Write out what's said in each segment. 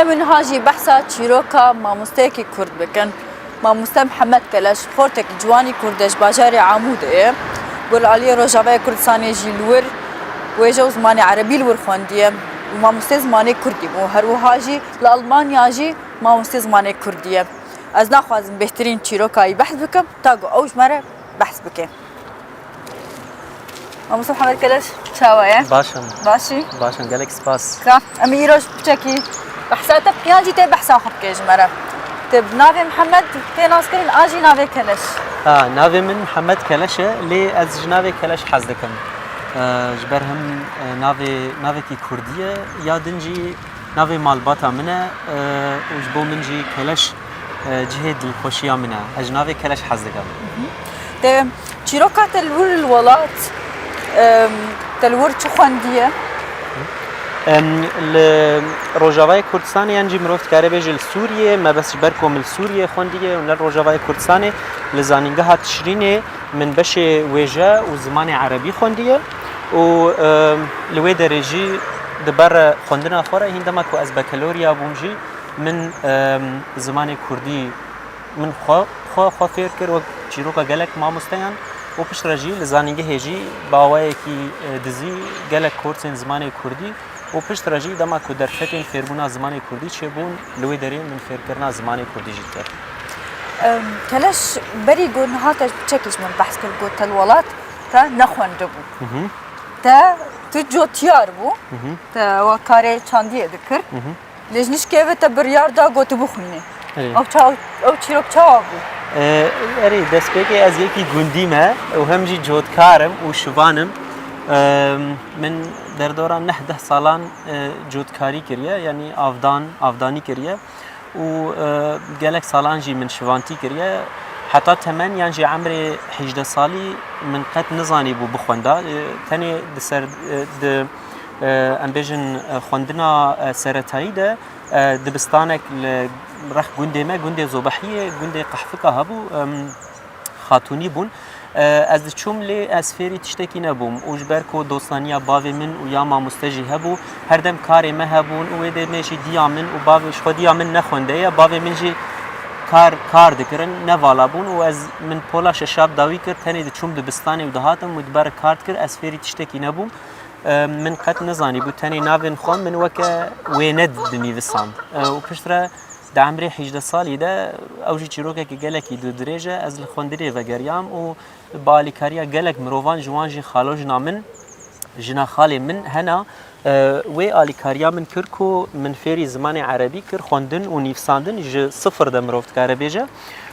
Em wiha jî behsa çîroka mamosteyekî Kurd bikin. Mamoste Mihemed Keleş xortek ciwanî Kurd e ji bajarê Amûdê ye. Gul aliyê Rojavayê Kurdistanê jî li wir wêje û zimanê erebî li wir xwendiye û mamostê zimanê Kurdî bû. Her wiha jî li Elmanya jî mamostê zimanê Kurdî ye. Ez naxwazim bêhtirîn çîroka wî behs bikim ta ku ew ji me re behs bike. Mamosta Muhammed Keleş çawa ye? Baş im. Başî? Baş im. Gelek spas. Ka em ê îroj piçekî behsa te bike yan jî tê behsa xwe bike ji me re. Te bi navê Muhammed tê naskirin a jî navê Keleş? Ha, navê min Muhammed Keleş e lê ez ji navê Keleş hez dikim. Ji ber him navê navekî kurdî ye ya din jî navê malbata min e û ji bo min jî Keleş Cihê dilxweşiya min e. Ez ji navê keleş hez dikim. Te çîroka te li wir li welat te li wir çi xwendiye? Li Rojavayê Kurdistanê yan jî mirov dikare bêje li Sûriyê me bes ji ber ku min li Sûriyê xwendiye û ne li Rojavayê Kurdistanê li zanîngeha Tişrînê min beşê wêje û zimanê erebî xwendiye û li wê derê jî di ber xwendina xwe re hîn dema ku ez bekelorya bûm jî Min zimanê kurdî min xwe xwe xwe fêr kir wek çîroka gelek mamosteyan û piştre jî li zanîngehê jî bi awayekî dizî gelek korsên zimanê kurdî û piştre jî dema ku derfetên fêrbûna zimanê kurdî çêbûn li wê derê min fêrkirina zimanê kurdî jî kir. Keleş berî ku niha te çekî ji min behs kir ku te li welat te nexwendibû. Te tu cotyar bû, te wa karê çandiyê dikir. Lêjnişkê ve te biryar da ku tu bixwînî. Ew çawa ew çîrok çawa bû? Erê destpêkê ez yekî gundî me û hem jî cotkar im û şivan im. Min derdora neh deh salan cotkarî kiriye yanî avdan avdanî kiriye û gelek salan jî min şivantî kiriye. Heta temen yan jî emrê hêjdeh salî min qet nizanî bû bixwenda. Tenê di ser di em bêjin xwendina seretayî de dibistanek li reh gundê me gundê Zobehiyê gundê qehfika hebû xatunî bûn. Ez diçûm lê ez fêrî tiştekî nebûm û ji ber ku dostaniya bavê min û ya mamoste jî hebû herdem karê me hebûn û wê dê me jî diya min û bavê ji xwe diya min nexwendeye bavê min jî kar kar dikirin nevala bûn û ez min pola şeşab dawî kir tenê diçûm dibistanê û dihatim wê diber kar dikir ez fêrî tiştekî nebûm. Min qet nizanîbû tenê navên xwe min weke wêne dinîvisand û piştre di emrê hîjdeh salî de ew jî çîrokekî gelekî dûdirêj e ez li xwendirê vegeriyam û bi alîkariya gelek mirovan ji wan jî xalojina min jina xalê min hena wê alîkariya min kir ku min fêrî zimanê erebî kir xwendin û nîvsandin ji sifir de mirov dikare bêje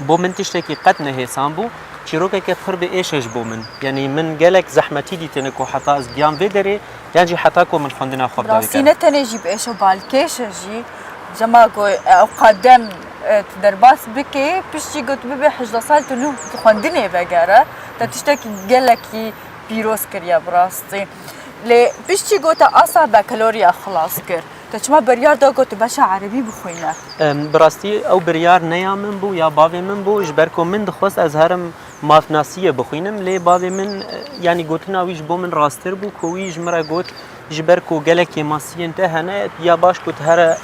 Bo min tiştekî qet ne hêsan bû, çîrokeke pir bi êş e ji bo min. Yanî min gelek zehmetî dîtine ku heta ez bigiyam vê derê yan jî heta ku min xwendina xwe bi dawî kir. Ne tenê jî bi êş e balkêş e jî. Dema ku ew qadem tu derbas bikê piştî ku tu bibî hejdeh sal tu nû di xwendinê vegere te tiştekî gelekî pîroz kiriye bi rastî. Lê piştî ku te asa bakaloriya xilas kir. Te çima biryar da ku tu beşa erebî bixwîne? Bi rastî ew biryar ne ya min bû ya bavê min bû ji ber ku min dixwest ez herim mafnasîyê bixwînim lê bavê min yanî gotina wî ji bo min rasttir bû ku wî ji min re got ji ber ku gelek kêmasîyên te hene ya baş ku tu here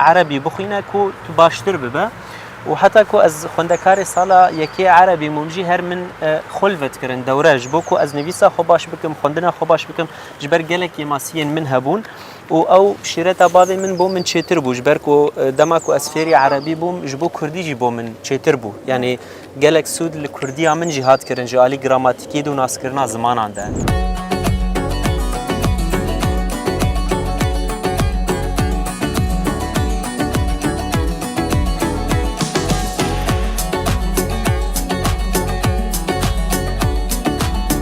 erebî bixwîne ku tu baştir bibe û heta ku ez xwendekarê sala yekê erebî mûm jî her min xul vedkirin dewre ji bo ku ez nivîsa xwe baş bikim xwendina xwe baş bikim ji ber gelek kêmasîyên min hebûn Û ew şîreta bavê min bo min çêtir bû, ji ber ku dema ku ez fêrî erebî bûm ji bo kurdî jî bo min çêtir bû. Yanî gelek sûd li kurdîya min jî hat kirin ji alî gramatikî de û naskirina zimanan de.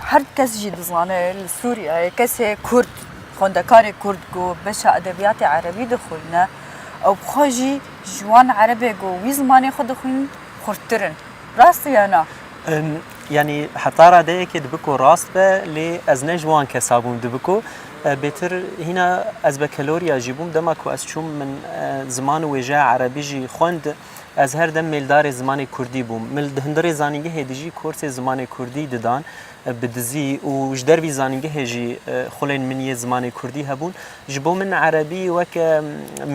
Her kes jî dizane li Sûriyeyê kesê Kurd, xwendekarê Kurd ku beşa edebiyatê Erebî dixwîne ew bi xwe jî ji wan Erebê ku wî zimanê xwe dixwînin xurttir in. Rast e ya na? Yanî heta radeyekê dibe ku rast be lê ez ne ji wan kesa bûm. Dibe ku bêtir hîna ez bekeloriya jî bûm dema ku ez çûm min ziman û wêjeya Erebî jî xwend. Ez her dem mêldarê zimanê kurdî bûm. Min di hundirê zanîngehê de jî korsê zimanê kurdî didan bi dizî û ji dervî zanîngehê jî xulên min yê zimanê kurdî hebûn. Ji bo min erebî weke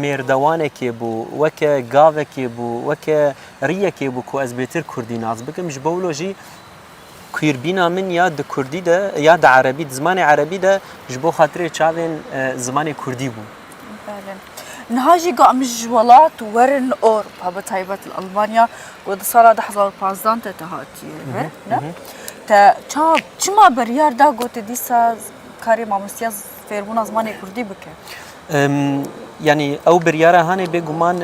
mêrdewanekê bû, weke gavekê bû, weke rîyekê bû ku ez bêtir kurdî nas bikim. Ji bo wilo jî Queerbîna min ya di kurdî de ya di erebî di zimanê erebî de ji bo xatirê çavên zimanê kurdî bû. Belê. Niha jî ga min ji welat werin Ewropa bi taybet li Elmanya ku di sala du hezar û pazdeh te te hatiye vir ne? Te ça çima biryar da ku te dîsa karê mamostiya fêrbûna zimanê kurdî bike. Yanî ew biryara hanê bêguman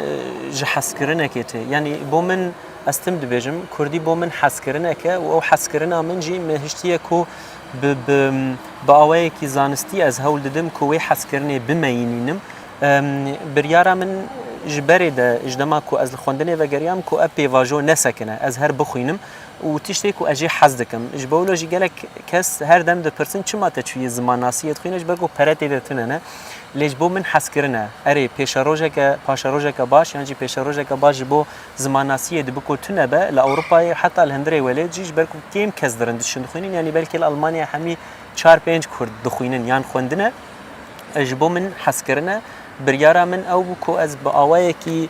ji hezkirinekê tê. Yanî bo min ez tim dibêjim kurdî bo min hezkirineke û ew hezkirina min jî me hiştiye ku bi bi awayekî zanistî ez hewl didim ku wê hezkirinê bimeyînînim. Biryara min ji berê de ji dema ku ez li xwendinê vegeriyam ku ev pêvajo nesekine ez her bixwînim. û tiştê ku ez jê hez dikim. Ji bo wilo jî gelek kes her dem dipirsin çima te çûyî zimannasî yê dixwîne ji ber ku pere tê de tune ne. Lê ji bo min hezkirin e. Erê pêşerojeke paşerojeke baş yan jî pêşerojeke baş ji bo zimannasî yê dibi ku tune be li Ewropayê heta li hundirê welêt jî ji ber ku kêm kes dirin diçin dixwînin yanî belkî li Elmanyayê hemî çar pênc kurd dixwînin yan xwendine ji bo min hezkirin e. Biryara min ew bû ku ez bi awayekî.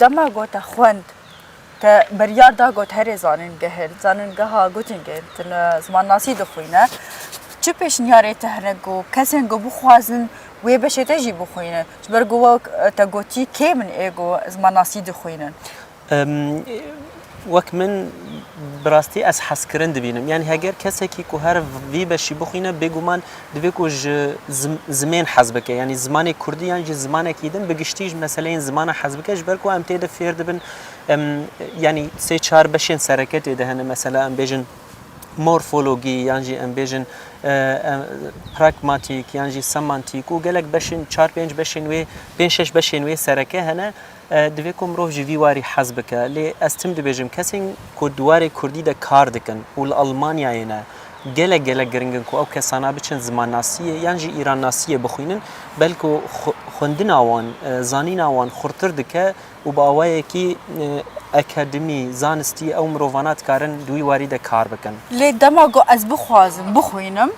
Dema got te xwend, te biryar da got herê zanîngehên, zanîngeha Göttingen tune zimanasî dixwîne, çi pêşniyarê te hene ku kesên ku bixwazin wê beşê te jî bixwînin? Ji ber ku wek te gotî kêm in ê ku zimanasî dixwînin. Wek min bi rastî ez hezkirin dibînim. Yanî heger kesekî ku her vî beşî bixwîne bêguman divê ku ji zimên hez bike. Yanî zimanê kurdî yan jî zimanekî din bi giştî ji meseleyên zimanan hez bike ji ber ku em tê de fêr dibin. Yanî sê çar beşên sereke tê de hene mesela em bêjin morfologî yan jî em bêjin pragmatîk yan jî semantîk û gelek beşên çar pênc beşên wê pênc şeş beşên wê sereke hene. Divê ku mirov ji vî warî hez bike. Lê ez tim dibêjim kesên ku di warê kurdî de kar dikin û li Elmanyayê ne, gelek gelek giring in ku ew kesana biçin zimannasiyê yan jî îrannasiyê bixwînin, belko xwendina wan, zanîna wan xurtir dike û bi awayekî akademî, zanistî ew mirovana dikarin di wî warî de kar bikin. Lê dema ku ez bixwazim bixwînim.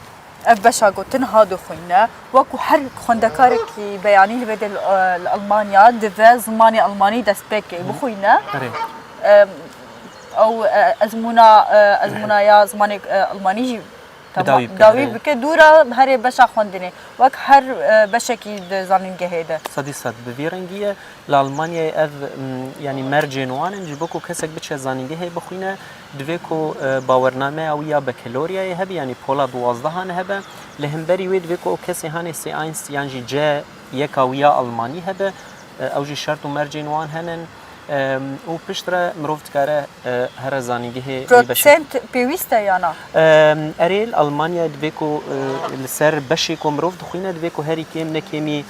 Ev beşa gotin ha dixwîne. Wekû her xwendekarekî beyanî li bêde li Elmanya dive zimanê Elmanî dest pê bike bixwîne. Ew ezmûna ezmûna ya zimanê Elmanî jî dawî bike dûra herê beşa xwendinê wek her beşekî di zanîngehê de. Sedî sed bi vî rengî ye. Li Elmanyayê ev yanî mercên wan in ji bo ku kesek biçe zanîngehê bixwîne. Divê ku bawernameya wî ya Bekaloryayê hebe yanî pola duwazdehan hebe. Li hemberî wê divê ku ew kesê hanê sê eins yan jî ce yeka wî ya almanî hebe. Ew jî şert û mercên wan hene û pişt re mirov dikare here zanîngehê wê beşê. Protsent pêwîst e yana? Erê, li Almanyayê divê ku li ser beşê ku mirov dixwîne divê ku herî kêm ne kêmî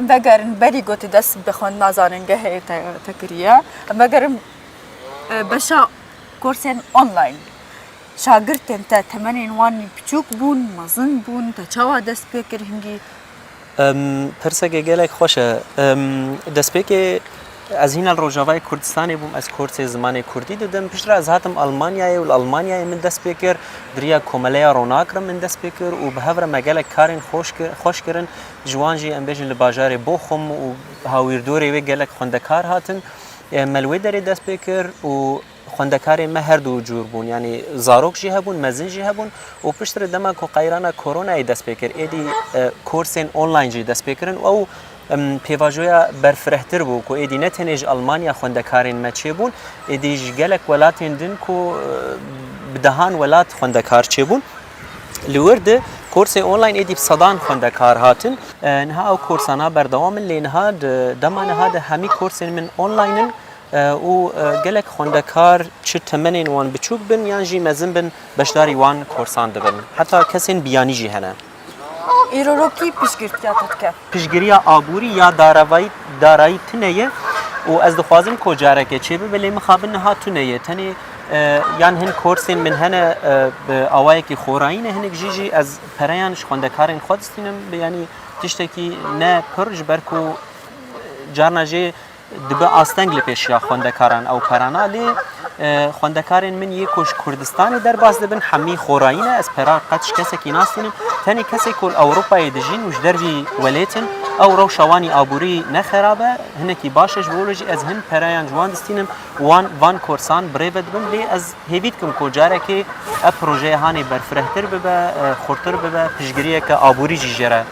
em vegerin berî gotî dest bi xwendina zanîngehê te kiriye em vegerin beşa korsên online Şagirtên te temenên wan biçûk bûn, mezin bûn, te çawa dest pê kir hingî? Pirsekê gelek xweş e. Destpêkê ez hîna li Rojavayê Kurdistanê bûm, ez korsê zimanê Kurdî didim. Piştre ez hatim Almanyayê û li Almanyayê min dest pê kir. Bi riya Komeleya Ronak re min dest pê kir û bi hev re me gelek karên xweş kirin. Ji wan jî em bêjin li bajarê Boxum û hawîrdorê wê gelek xwendekar hatin. Me li wê derê dest pê kir û Xwendekarên me her du cûr bûn, yanî zarok jî hebûn, mezin jî hebûn û piştre dema ku qeyrana koronayê dest pê kir, êdî korsên online jî dest pê kirin û ew pêvajoya berfirehtir bû ku êdî ne tenê ji Elmanya xwendekarên me çêbûn, êdî ji gelek welatên din ku bi dehan welat xwendekar çêbûn. Li wir di korsên online êdî bi sedan xwendekar hatin. Niha ew korsana berdewam in lê niha di dema niha di hemî korsên min online in û gelek xwendekar çi temenên wan biçûk bin yan jî mezin bin beşdarî wan korsan dibin. Heta kesên biyanî jî hene. Îroro kî piştgirtiya te dike? Piştgiriya aborî ya darayî tune ye û ez dixwazim ku careke çêbibe lê mixabin niha tune ye. Tenê yan hin korsên min hene bi awayekî xorayî ne hinek jî jî ez pereyan ji xwendekarên xwe distînim. Yanî tiştekî ne pir ji ber ku carna jê, Dibe asteng li pêşiya xwendekaran ew perana lê xwendekarên min yê ku ji Kurdistanê derbas dibin hemî xorayî ne. Ez perar qet ji kesekî nastînim. Tenê kesê ku li Ewropayê dijîn û ji dervî welêtin ew rewşa wan î aborî ne xerab e, hinekî baş e. Ji bo re jî ez hin perayan ji wan distînim û wan van korsan bi rê ve dibim. Lê ez hêvî dikim ku carekê ev projeya hanê berfirehtir bibe, xurtir bibe, piştgiriyeke aborî jî jê re.